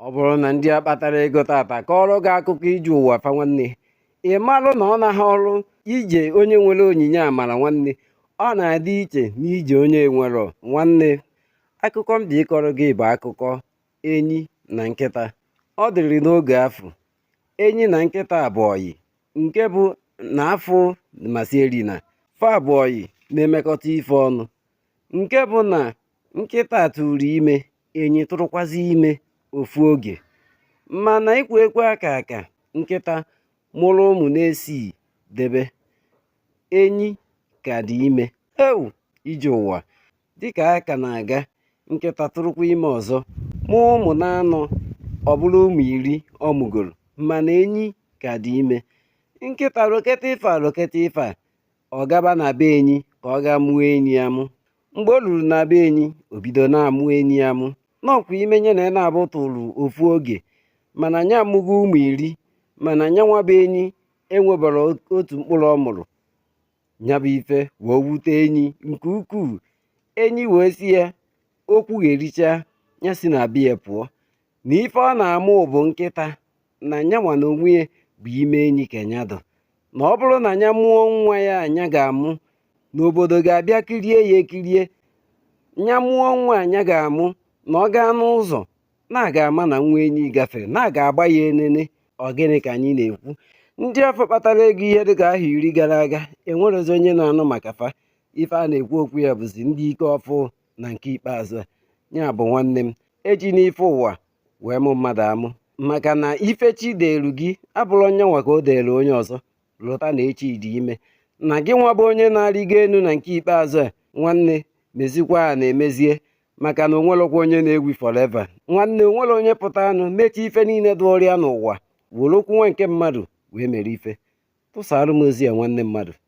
ọ bụrụ na ndị a kpatara ego tata kọọrọ gị akụkọ ije ụwa fa nwanne ị marụ na ọ naghị ọrụ ije onye nwere onyinye amara nwanne ọ na-adị iche n'ije onye nwere nwanne akụkọ m dị ịkọrọ gị bụ akụkọ enyi na nkịta ọ dịrị n'oge afụ enyi na nkịta bụ ọyị nke bụ na afọ masịrị na fa bụ ọyị na-emekọta ife ọnụ nke bụ na nkịta tụrụ ime enyi tụrụkwazị ime ofu oge mana ịkwa ekwe aka aka nkịta mụrụ ụmụ na isii debe enyi ka dị ime ewu ije ụwa dịka a ka na-aga nkịta tụrụkwa ime ọzọ mụọ ụmụ na anọ ọ bụrụ ụmụ iri ọ mụgoro mana enyi ka dị ime nkịta roketa ife a roketa ife a ọ gaba na be enyi ka ọ gaa mụọ enyi amụ mgbe o ruru na be enyi o bido na-amụ enyi amụ na ọ kwa ime nya na ya naabọ tụrụ ofu oge mana nya amụgo ụmụ iri mana nya nwa bụ enyi enwebara otu mkpụrụ ọ mụrụ nya bụ ife wee wute enyi nke ukwuu enyi wee si ya o kwugherichaa ya si na be ya pụọ na ife ọ na-amụ bụ nkịta na nyanwa na onwe ya bụ ime enyi ka ya dị na ọ bụrụ na ya mụọ nwa ya nya ga-amụ na obodo ga-abịa kirie ya ekirie ya mụọ nwa nya ga-amụ na ọ gaa n'ụzọ na a ga-ama na nwa enyi gafere na a ga-agba ya enene ọ gịnị ka anyị na-ekwu ndị afụ kpatara ego ihe dịka ahọ iri gara aga enwerezi onye na-anụ maka fa ife a na-ekwu okwu ya bụzi ndị nke ọfụ na nke ikpeazụ ya bụ nwanne m ejina ife ụwa wee mụ mmadụ amụ maka na ife chi deelu gị abụrọ nya nwa ka o deelu onye ọzọ lota na echi dị ime na gị nwa bụ onye na-arịgo elu na nke ikpeazụ a nwanne mezikwa a na-emezie maka na o nwelọkwa onye na-ewu forever nwanne o nwerọ onye pụta anụ mechie ife niile dị ọrịa n'ụwa were okwu nwa nke mmadụ wee mere ife tụsara m ozi ya nwanne mmadụ